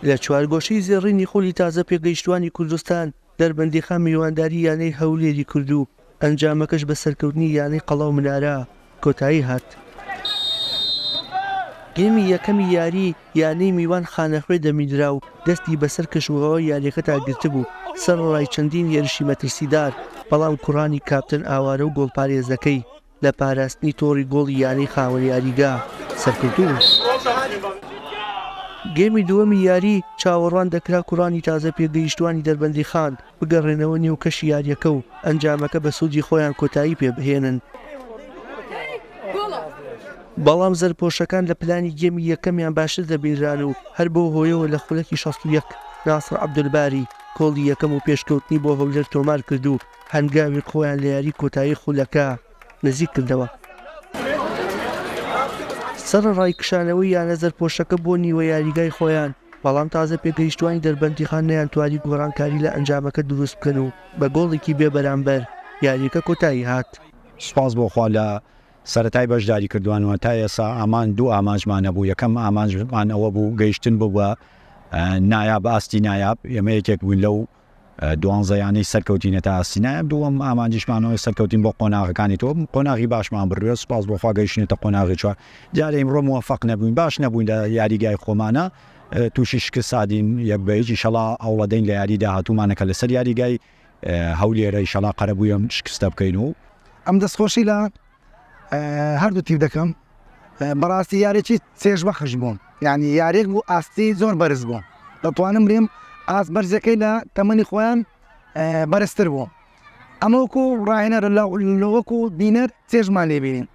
لە چوارگۆشەی زێڕینی خولی تازە پێگەیشتووانی کوردستان، دەربەندیخان میوانداری یانەی هەولێری کرد و ئەنجامەکەش بە سەرکەوتنی یانەی قەڵا و منارە کۆتایی هات. گێمی یەکەمی یاریی، یانەی میوان خانەخوێ دەمیدرا و دەستی بەسەر کەشوهەوای یارییەکەدا گرتبوو، سەرەڕای چەندین هێرشی مەترسیدار، بەڵام کوڕانی کاپتن ئاوارە و گۆڵپارێزەکەی، لە پاراستنی تۆڕی گۆڵی یانەی خاوەن یاریگا سەرکەوتوو بوو. گێمی دووەمی یاری، چاوەڕوان دەکرا کوڕانی تازە پێگەیشتووانی دەربەندیخان بگەڕێنەوە نێو کەشی یارییەکە و ئەنجامەکە بە سوودی خۆیان کۆتایی پێ بهێنن، بەڵام زەردپۆشەکان لە پلانی گێمی یەکەمیان باشتر دەبینران و هەر بەو هۆیەوە لە خولەکی شەست و یەک ناسڕ عەبدولباری گۆڵی یەکەم و پێشکەوتنی بۆ هەولێر تۆمار کرد و هەنگاوێک خۆیان لە یاری کۆتایی خولەکە نزیک کردەوە. سەرەڕای کشانەوەی یانە زەرپۆشەکە بۆ نیوە یاریگای خۆیان، بەڵام تازە پێگەیشتوانی دەربەندیخان نەیانتوانی گۆڕانکاری لە ئەنجامەکە دروست بکەن و بە گۆڵێکی بێ بەرامبەر یاریەکە کۆتایی هات. سوپاس بۆ خوا لە سەرەتای بەشداری کردوان و تا ئێسا ئامان دوو ئامانجمان هەبوو یەکەم ئامانجمان ئەوە بوو گەیشتن بوو بە نایاب ئاستی نایاب ئێمە یەکێک بووین لەو دوانزە یانەی سەرکەوتینە تا ئاستینایە دووەم ئامانجیشمانەوەی سەرکەوتین بۆ قۆناغەکانی تۆ قۆناغی باشمان بردوێت سپاس بۆخوا گەیشتێتە قۆناغی چوار دیارە ئیمڕۆ موفق نەبووین باش نەبووین لە یاریگای خۆمانە تووشی شکست سادین یەک بە یەکی شەڵا ئەوڵەدەین لە یاری داهاتوومانەکە لەسەر یاریگای هەولێرە شەڵا قەرەبوویم شکستە بکەین و ئەم دەستخۆشی لە هەردوو تیپ دەکەم بەڕاستی یارێکی چێژ بەخش بووم یعنی یارێک بوو ئاستی زۆر بەرز بووم دەتوانم بریم ئاس بەرزەکەی لە تەمەنی خۆیان بەرزتر بوو ئەمەوەکو ڕاهێنەر لەوەکو بینەر چێژمان لێبینین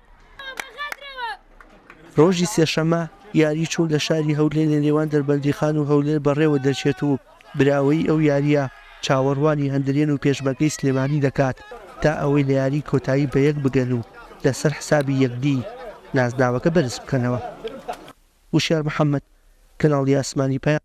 ڕۆژی سێشەمە یاری چوو لە شاری هەولێر لە نێوان دەربەندیخان و هەولێر بەڕێوە دەچێت و براوەیی ئەو یارییە چاوەڕوانی هەندرێن و پێشمەرگەی سلێمانی دەکات تا ئەوەی لە یاری کۆتایی بە یەک بگەن و لەسەر حسابی یەکدی نازناوەکە بەرز بکەنەوە. وشیار محەمەد، کەناڵی ئاسمانی پەیام.